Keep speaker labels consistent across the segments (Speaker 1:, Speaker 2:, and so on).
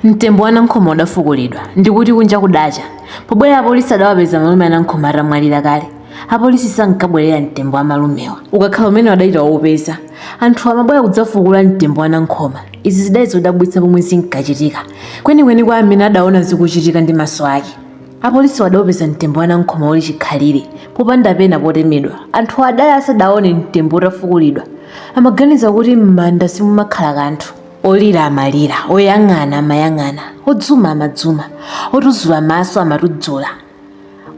Speaker 1: Mtembo wa Nankhoma udafukulidwa ndikuti kunja kudacha. Pobwera apolisi adawapeza malume a Nankhoma atamwalira kale. Apolisi sankabwerera mtembo wa malumewa ukakhala umenewo adali ataupeza. Anthuwa amabwera kudzafukula mtembo wa Nankhoma. Izi zidali zodabwitsa pomwe zinkachitika. Kwenikweni kwa amene adaona zikuchitika ndi maso ake. Apolisiwo adaupeza mtembo wa Nankhoma uli chikhalire, popanda pena potemedwa. Anthuwa adali asadaone mtembo utafukulidwa. Amaganiza kuti m'manda simumakhala kanthu. Olira amalira, oyang'ana amayang'ana, odzuma amadzuma, otudzula maso amatudzula,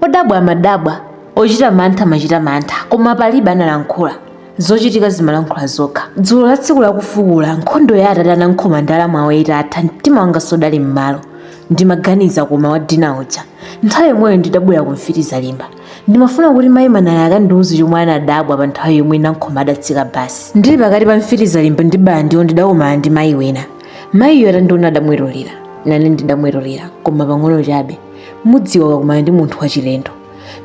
Speaker 1: odabwa amadabwa, ochita mantha amachita mantha, koma palibe analankhula. Zochitika zimalankhula zokha. Dzulo la tsiku lakufukula, nkhondo ya atate a Nankhoma ndi alamu awo itatha, mtima wanga sudali m'malo. Ndimaganiza koma wadina uja. Nthawi yomweyo ndidabwera ku Mfiti Zalimba. ndimafuna kuti mayi manala akandiuze chomwe anadabwa pa nthawi yomwe nankhoma adatsika basi ndili pakati pa mfiti zalimba ndi bala ndiwo ndidakumana ndi mayi wina mayiyo atandiona adamwetulira nane ndidamwetulira koma pang'ono chabe mudziwa ukakumana ndi munthu wachilendo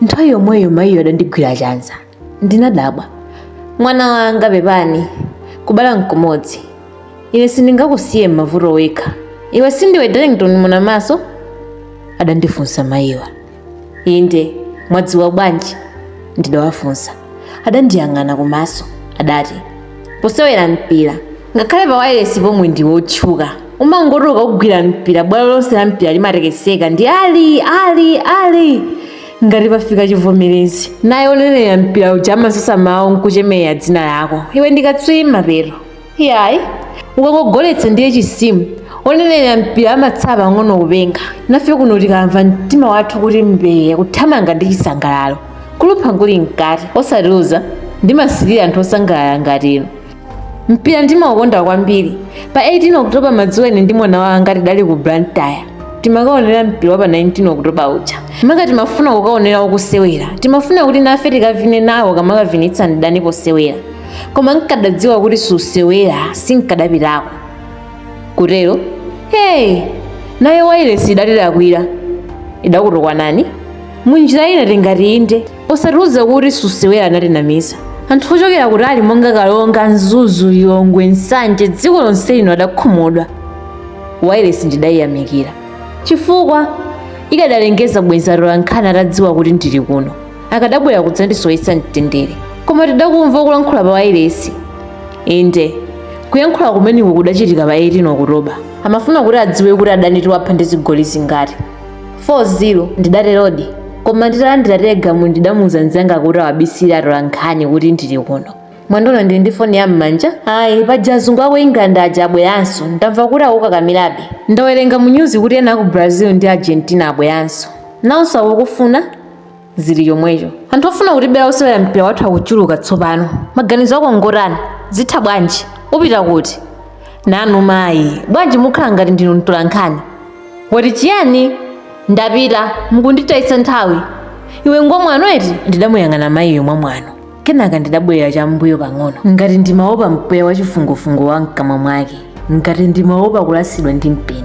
Speaker 1: nthawi yomweyo mayiyo adandigwira chanza ndinadabwa mwana wanga pepani kubala nkumodzi ine sindingakusiye m'mavuto wekha iwe sindiwe darlington munamaso adandifunsa mayiwa inde mwadziwa bwanji ndidawafunsa adandiyang'ana kumaso adati posewera mpira ngakhale pa wailesi pomwe ndi wotchuka umangoti ukagwira mpira bwalo lonse la mpira limatekeseka ndi ali ali ali ngati pafika chivomerezi naye onenera mpira uja amasasa mawu nkuchemerera dzina lako iwe ndi katswiri mapeto iyayi ukangogoletsa ndiye chisimu onenera mpira amatsala pang'ono kupenga nafe kuno tikamva mtima wathu kuti mbee kuthamanga ndi chisangalalo kulumpha kuli mkati osatiuza ndimasirira anthu osangalala ngati inu mpira ndimaukonda kwambiri pa 18 oktoba madzulo ine ndi mwana wanga tidali ku blantyre timakaonera mpira wa pa 19 oktoba uja maka timafuna kukaonera ukusewera timafuna kuti nafe tikavine nawo ukamakavinitsa ndi adani posewera koma nkadadziwa kuti susewera sinkadapitako kutero eti naye wailesi idatilakwira idakutukwanani munjira ina tingati inde posatiuza kuti susewera anatinamiza anthu ochokera kutali monga karonga mzuzu lilongwe nsanje dziko lonse lino adakhumudwa wailesi ndidayiyamikira chifukwa ikadalengeza bwenzi atolankhani atadziwa kuti ndili kuno akadabwera kudzandisowetsa mtendere koma tidakumva kulankhula pa wailesi inde kuyankhula kumeneko kudachitika pa 18 okutoba amafuna kuti adziwe kuti adani tiwapha ndi zigoli zingati 4-0 ndidaterodi koma nditalandira telegramu ndidamuuza mzanga kuti awabisire atolankhani kuti ndili kuno mwaona ndili ndi foni ya m'manja ayi paja azungu ako aku england aja abweranso ndamva kuti akukakamirabe ndawerenga mu nyuzi kuti ena aku brazil ndi argentina abweranso nawonso akukufuna zili chomwecho anthu ofuna kutibera osewera mpira wathu akuchuluka tsopano maganizo ako ngotani zitha bwanji upita kuti nanu mayi bwanji mukhala ngati ndinu mtolankhani wati chiyani ndapita mukunditayitsa nthawi iwe ngomwano eti ndidamuyang'ana mayiyo mwamwano kenaka ndidabwerera cham'mbuyo pang'ono ngati ndimaopa mpweya wa chifungofungo wa mkamwa mwake ngati ndimaopa kulasidwa ndi mpeni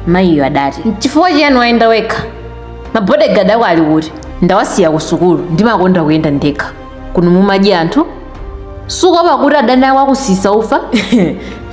Speaker 1: mayiyo adati n'chifukwa chiyani wayenda wekha mabodegadi ako ali kuti ndawasiya ku sukulu ndimakonda kuyenda ndekha kuno mumadya anthu sukuopa kuti adani ako akusisa ufa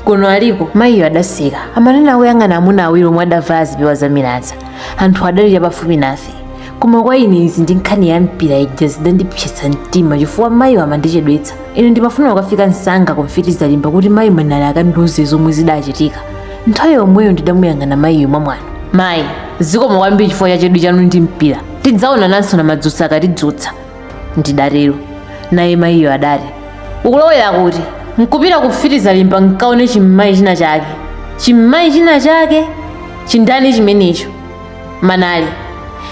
Speaker 1: kuno aliko mayiyo adaseka amanena akuyang'ana amuna awiri omwe adavala zipewa zamilaza anthu adali chapafupi nafe koma kwa ine izi ndi nkhani ya mpira ija zidandipsetsa mtima chifukwa mayiwa amandichedwetsa ine ndimafuna kukafika msanga ku mfiti zalimba kuti mayi manali akandiuze zomwe zidachitika nthawi yomweyo ndidamuyang'ana mayiyo mwamwano mayi zikomo kwambiri chifukwa cha chidwi chanu ndi mpira tidzaonananso na madzutsa akatidzutsa ndidatero naye mayiyo adati ukulowera kuti nkupita ku mfiti zalimba nkaone chimmayi china chake chimmayi china chake chindani chimenecho manali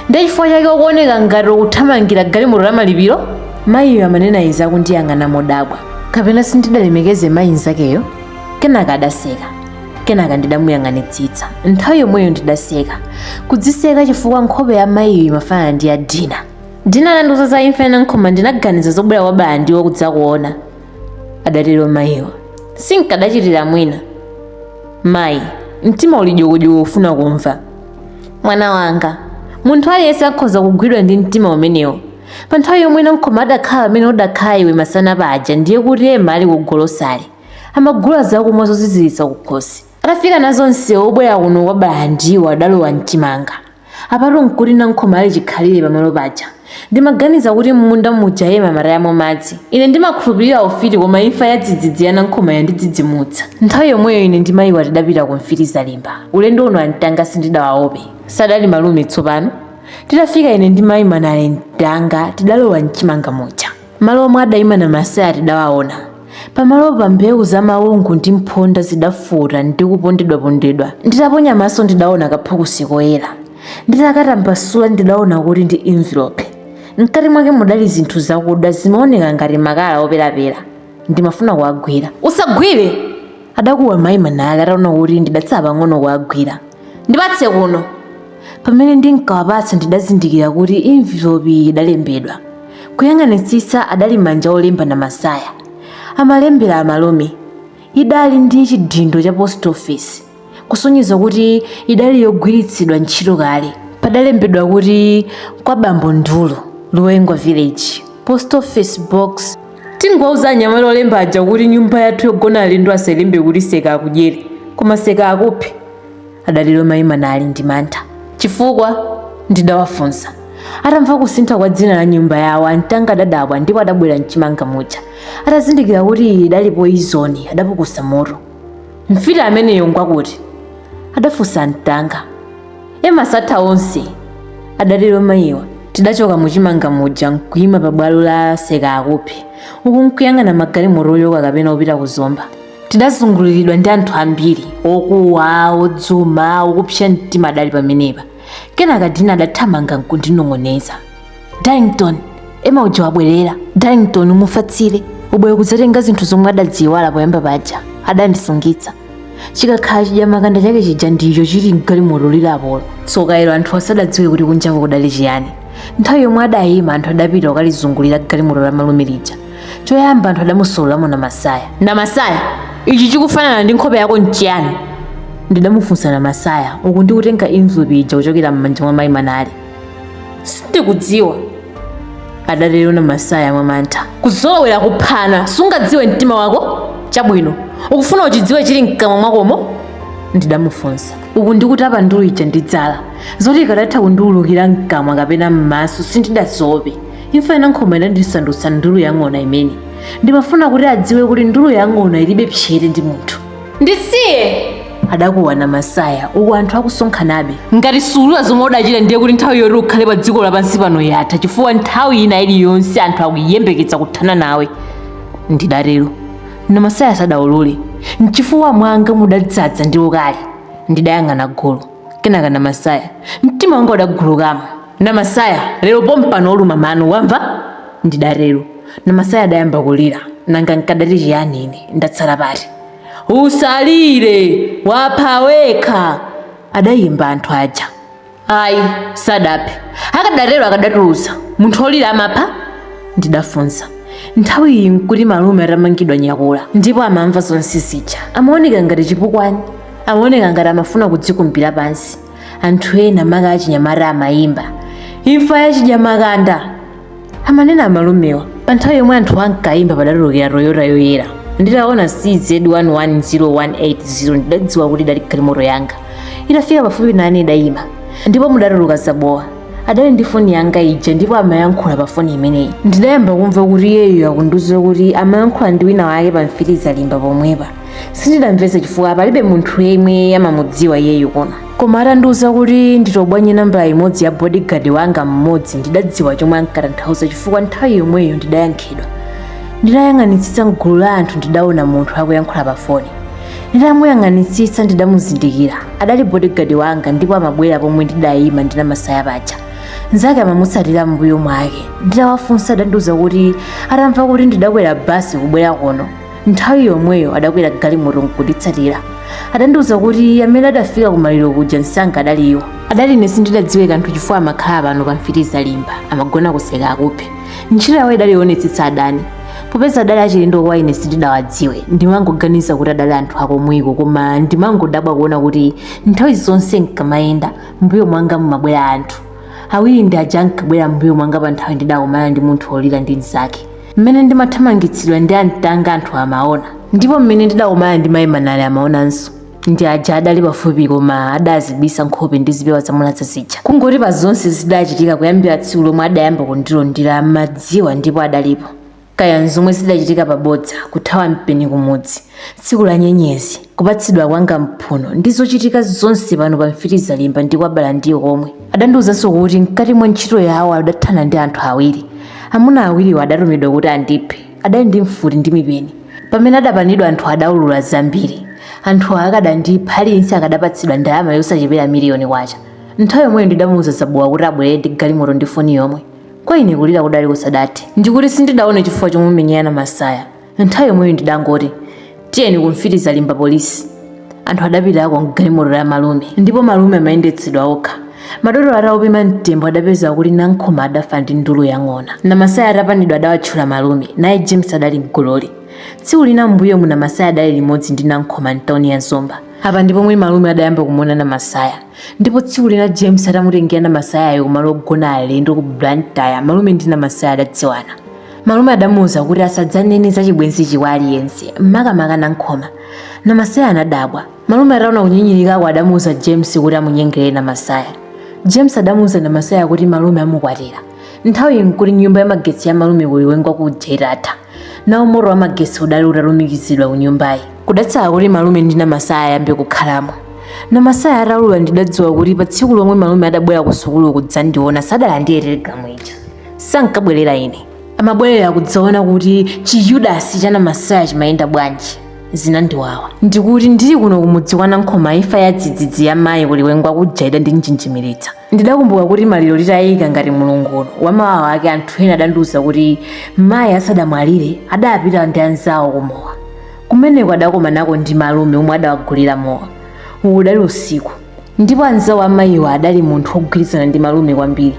Speaker 1: ndiye chifukwa chake ukuoneka ngati ukuthamangira galimoto la malipiro mayiyo amanena izi akundiyang'ana modabwa kapena sindidalemekeze mayi nzakeyo kenaka adaseka kenaka ndidamuyang'anitsitsa nthawi yomweyo ndidaseka kudziseka chifukwa nkhope ya mayiyo imafanana ndi ya dina dina atandiuza za imfa ya nankhoma ndinaganiza zobwera kwa bala ndiwo kudzakuona adatero mayiwo sinkadachitira mwina mayi mtima uli dyokodyoko ufuna kumva mwana wanga munthu aliyense akhoza kugwidwa ndi mtima umenewo pa nthawi yomwe nankhoma adakhala pamene udakhala iwe masana paja ndiye kuti ema adali kugolosale amagula zakumwa zoziziritsa kukhosi Atafika nazo msewu wobwera kuno kwa Balandiwo adalowa m'chimanga. Apatu nkuti Nankhoma ali chikhalire pamalo paja. Ndimaganiza kuti m'munda muja Ema amatayamo madzi. Ine ndimakhulupirira ufiti koma imfa yadzidzidzi ya Nankhoma yandidzidzimutsa. Nthawi yomweyo ine ndi mayiwa tidapita ku mfiti zalimba. Ulendo uno amtanga sindidawaope. Sadali malume tsopano? Titafika ine ndi mayi Manali mtanga tidalowa m'chimanga muja. Malo omwe adaima Namasaya tidawaona. Pamalopa mbewu za mawungu ndi mphonda zidafota ndi kupondedwapondedwa. Nditaponya maso ndidaona kaphukusi koyera. Nditakatambasula ndidaona kuti ndi envelope. Mkati mwake mudali zinthu zakuda zomaoneka ngati makala operapera. Ndimafuna kuwagwira. Usagwire! adakuwa mayi Manale ataona kuti ndidatsala pang'ono kuwagwira ndipatse kuno pamene ndinkawapatsa ndidazindikira kuti envelope idalembedwa kuyang'anitsitsa adali manja olemba Namasaya amalembera amalume idali ndi chidindo cha post office kusonyeza kuti idali yogwiritsidwa ntchito kale padalembedwa kuti kwa bambo ndulu Luwenga village post office box tingowauza anyamata olemba aja kuti nyumba yathu yogona alendo asalembe kuti seka akudyere koma seka akuphe adatero mayi Manale ndi mantha chifukwa ndidawafunsa atamva kusintha kwa dzina la nyumba yawo amtanga adadabwa ndipo adabwera mchimanga muja atazindikira kuti iyi idali poizoni adapukusa mutu mfiti ameneyo ngwakuti adafunsa amtanga ema satha onse adatero mayiwa tidachoka muchimanga muja nkuyima pa bwalo la seka akuphe uku nkuyang'ana magalimoto ochoka kapena opita ku zomba tidazunguliridwa ndi anthu ambiri okuwa odzuma okupsa mtima adali pamenepa kenaka dina adathamanga nkundinong'oneza darlington ema uja wabwerera darlington umufatsire ubwere kudzatenga zinthu zomwe adaziiwala poyamba paja adandisungitsa chikakhala chidyamakanda chake chija ndicho chili mgalimoto lilapolo tsoka ilo anthu asadadziwe kuti kunjako kudali chiyani nthawi yomwe adayima anthu adapita kukalizungulira galimoto la malume lija choyamba anthu adamusololamo namasaya namasaya ichi chikufanana ndi nkhope yako nchiyani ndidamufunsa namasaya uku ndikutenga envelope ija kuchokera m'manja mwa mayi manale sindikudziwa adatero namasaya mwamantha kuzolowera kuphana sungadziwe mtima wako chabwino ukufuna uchidziwe chili mkamwa mwakomo ndidamufunsa uku ndikutapa ndulu ija ndi dzala zoti ikadatha kundiulukira mkamwa kapena m'maso sindidaziope imfa ya nankhoma idandisandutsa ndulu yang'ona imene ndimafuna kuti adziwe kuti ndulu yang'ona ilibe psete ndi munthu ndisiye adakuwa namasaya uku anthu akusonkhanabe ngati suulula zomwe udachita ndiye kuti nthawi yoti ukhale pa dziko lapansi pano yatha chifukwa nthawi ina iliyonse anthu akuyembekeza kuthana nawe ndidatero namasaya sadaulule mchifuwa mwanga mudadzaza ndi ukali ndidayang'ana gulu kenaka namasaya mtima wanga udagulukamo Namasaya, lero pompano uluma mano, wamva? Ndidatero. Namasaya adayamba kulira. Nanga nkadati chiyani ine? Ndatsala pati? Usalire! Wapha wekha! adayimba anthu aja. Ayi, sadaphe. Akadatero akadatulutsa. Munthu olira amapha? Ndidafunsa. Nthawi iyi nkuti malume atamangidwa nyakula ndipo amamva zonse zija. Amaoneka ngati chipukwani. Amaoneka ngati amafuna kudzikumbira pansi. anthu ena maka achinyamata amayimba imfa ya chidyamakanda amanena amalumewa pa nthawi yomwe anthu ankayimba padatulukira toyota yoyera nditaona cz110180 ndidadziwa kuti idali galimoto yanga itafika pafupi nane idayima ndipo mudatuluka zabowa adali ndi foni yanga ija ndipo amayankhula pa foni imeneyi ndidayamba kumva kuti iyeyo akundiuza kuti amayankhula ndi wina wake pa mfitizalimba pomwepa sindidamvetse chifukwa palibe munthu yemwe amamudziwa iyeyu kuno koma atandiuza kuti nditobwanye nambala imodzi ya bodyguard wanga mmodzi ndidadziwa chomwe ankatanthauza chifukwa nthawi yomweyo ndidayankhidwa ndidayang'anitsitsa mgulu la anthu ndidaona munthu akuyankhula pa foni nditamuyang'anitsitsa ndidamuzindikira adali bodyguard wanga ndipo amabwera pomwe ndidayima ndi namasaya paja nzake amamutsatira mbuyo mwake nditawafunsa adandiuza kuti atamva kuti ndidakwera basi kubwera kuno nthawi yomweyo adakwera galimoto nkunditsatira adandiuza kuti amene adafika kumaliro kuja msanga adali iwo adali ine sindidadziwe kanthu chifukwa amakhala pano pa mfitizalimba amagona kuseka akuphe ntchito yawo idali yoonetsetsa adani popeza adali achilendo kwa ine sindidawadziwe ndimangoganiza kuti adali anthu akomweko koma ndimangodabwa kuona kuti nthawi zonse nkamayenda mbuyo mwanga mumabwera anthu awiri ndi aja ankabwera mbuyo mwanga pa nthawi ndidakumana ndi munthu wolira ndi mnzake mmene ndimathamangitsidwa ndi antanga anthu amaona ndipo mmene ndidakumana ndi mayi manale amaonanso ndi aja adali pafupi koma adazibisa nkhope ndi zipewa zamulaza zija kungoti pa zonse zidachitika kuyambira tsiku lomwe adayamba kundilondera amadziwa ndipo adalipo kaya nzomwe zidachitika pabodza kuthawa mpeni kumudzi tsiku la nyenyezi kupatsidwa kwanga mphuno ndi zochitika zonse pano pa mfitizalimba ndi kwabala ndi komwe adandiwuzanso kuti mkati mwa ntchito yawo adathana ndi anthu awiri amuna awiriwo adatumidwa kuti andiphe adali ndi mfuti ndi mipeni pamene adapanidwa anthu adaulula zambiri anthu akadandipha aliyense akadapatsidwa ndalama yosachepera miliyoni kwacha nthawi yomweyo ndidamuwuza zabowa kuti abwerere ndi galimoto ndi foni yomwe kwa ine kulira kudali kusadati ndikuti sindidaone chifukwa chomumenyera namasaya nthawi yomweyo ndidangoti tiyeni ku mfitizalimba polisi anthu adapitako mgalimoto la malume ndipo malume amayendetsedwa okha madotolo ataupima mtembo adapeza kuti nankhoma adafa ndi ndulu yang'ona namasaya atapanidwa adawatchula malume naye james adali mgololi tsiku lina m'mbuyomu namasaya adali limodzi ndi nankhoma mtauni ya zomba apa ndi pomwe malume adayamba kumuona namasaya ndipo tsiku lina james atamutengera namasayayo kumalo ogona alendo ku blantyre malume ndi namasaya adadziwana malume adamuuza kuti asadzanene za chibwenzichi kwa aliyense makamaka nankhoma namasaya anadabwa malume ataona kunyinyirikako adamuuza james kuti amunyengerere namasaya james adamuuza namasaya kuti malume amukwatira nthawi nkuti nyumba ya magetsi ya malume ku liwengwa kuja itatha nawo moto wa magetsi udali utalumikizidwa ku nyumbayi kudatsala kuti malume ndi namasaya ayambe kukhalamo namasaya ataulula ndidadziwa kuti pa tsiku lomwe malume adabwera ku sukulu kudzandiona sadalandire telegramu ija sankabwerera ine amabwerera kudzaona kuti chiyudasi cha namasaya chimayenda bwanji zinandiwawa ndikuti ndili kuno kumudzi kwa nankhoma imfa ya dzidzidzi ya mayi ku liwengwa kuja idandinjenjemeretsa ndidakumbuka kuti maliro titayika ngati mulungu uno wamawa wake anthu ena adandiuza kuti mayi asadamwalire adapita ndi anzawo kumowa kumeneko adakomanako ndi malume omwe adawagulira mowa uwu udali usiku ndipo anzawo amayiwa adali munthu wogwirizana ndi malume kwambiri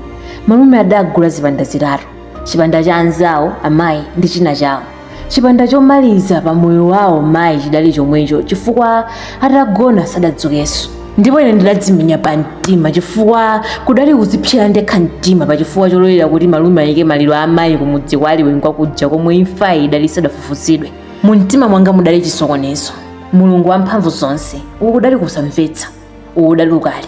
Speaker 1: malume adagula zipanda zitatu chipanda cha anzawo amayi ndi china chawo chipanda chomaliza pa moyo wawo mayi chidali chomwecho chifukwa atagona sadadzukenso ndipo ine ndidadzimenya pa mtima chifukwa kudali kudzipsera ndekha mtima pa chifukwa chololera kuti malume ayike maliro a amayi kumudzi kwa liwengwa kuja komwe imfayi idali sadafufuzidwe mu mtima mwanga mudali chisokonezo mulungu wamphamvu zonse uku kudali kusamvetsa uku kudali ukali